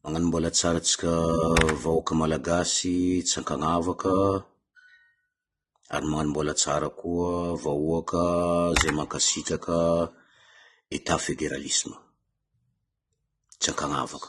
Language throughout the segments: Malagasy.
Magnano mbôla tsara antsika vahoaka malagasy tsy ankagnavaka, ary magnano mbôla tsara koa vahoaka zay mankasitraka Etat federalisme, tsy ankagnavaka.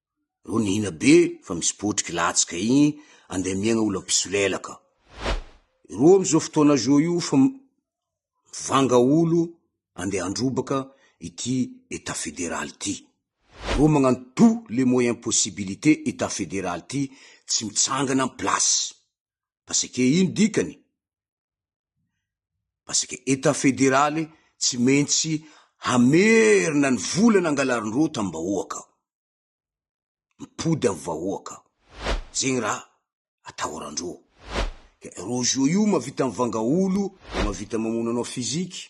Rô nihina be fa misy potriky latsaka igny andeha miegna olo mpisolelaka. Rô am zô fotoana zô io fa mivanga olo andeha handrobaka ity etat federal ty. Rô magnano tout les moyens possibilités etat federal ty tsy mitsangana am place. Parce que ino dikany? parce que etat federaly tsy mentsy hamerina ny vola nangalarinreo tam bahoaka ao, mipody am vahoaka ao, zegny raha atahorandreo, ke rojo io mavita mivanga olo, mavita mamono anao physique,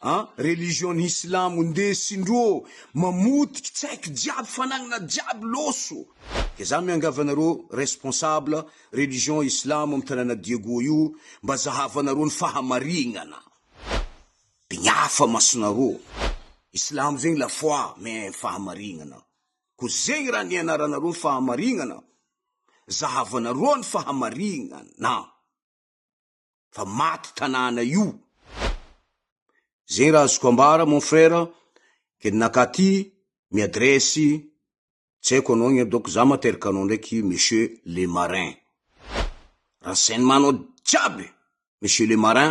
An religion ny silamo nde sindro ô mamotiky tsaiky jiaby fanagnana jiaby loso de za miangavy anareo responsable religion islamo am tanàna diego io mba zahavanareo ny fahamarignana de ny afa masonareo islamo zegny la foi mais ny fahamarignana ko zegny raha nianaranareo ny fahamarignana zahavanareo ny fahamarignana. fa maty tanàna io. Zegny raha azoko ambara mon frère, ke ninakà ty mi adresse, tsy haiko anao anie donc za materaka anao ndraiky monsieur le marin. Renseignement-nao jiaby monsieur le marin.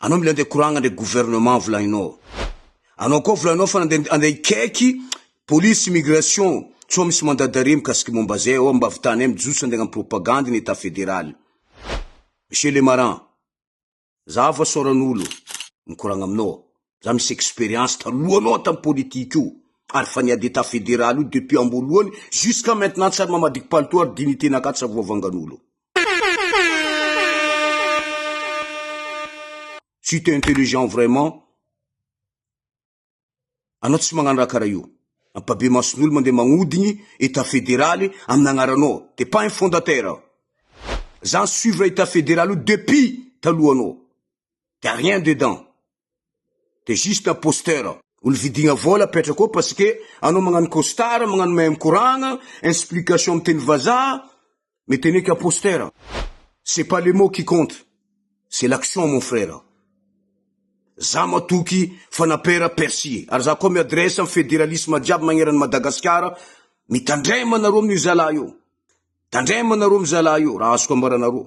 Anao mila andeha koragna ndray gouvernement volaninao. Anao koa volaninao fa andeha andeha hikaiky police immigration sao misy mandat d'arrêt mikasiky momba zay ao mba avitanay mijotso andeha hagnano propagande ny etat federal. Monsieur le marin, za vao saoran'olo mikoragna aminao. Za misy expérience taloha anao an tam politique io ary fa niady etat fédéral io depuis amboalohany jusqu'à maintenant tsy ary mamadiko palitao ary dignité na ka tsy avoavangan'olo. Si t'es intelligent vraiment anao tsy magnano raha karaha io. Mampabe mason'olo mandeha magnodigny etat fédéral amn agnaranao. T'es pas un fondateur. Za ni suivre etat fédéral io depuis taloha anao. de rien dedans de juste imposteur olo vidigna vola apetrako ao parce que anao magnano costard magnano mahay mikoragna explication am teny vazaha mety anao eky imposteur c'est pas le mot qui compte c'est l'action mon frère za matoky fanapera perci ary za koa mi adresse am federalisme jiaby magneran Madagasikara mitandrema anareo amin'io zalahy io tandrema anareo am zalahy io raha azoko ambaranareo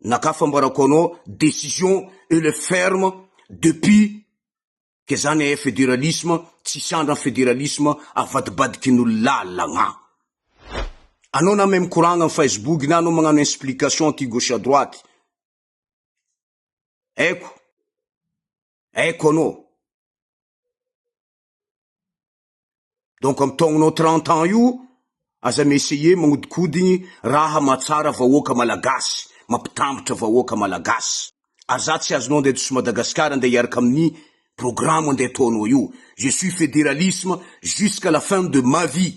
na ka fambarako anao décision et le ferme depuis ke zany eh federalisme tsisy andra federalisme avadibadiky ny lalagna anao na meme koragna ny facebook na anao magnano explication aty gauche à droite aiko aiko anao donc am taognonao trente ans io aza mi essayer magnodikodigny raha mahatsara vahoaka malagasy mampitambatra vahoaka malagasy aza tsy azonao andeha to Madagascar andeha hiaraka aminy programme andeha ataonao io je suis federalisme jusqu'à la fin de ma vie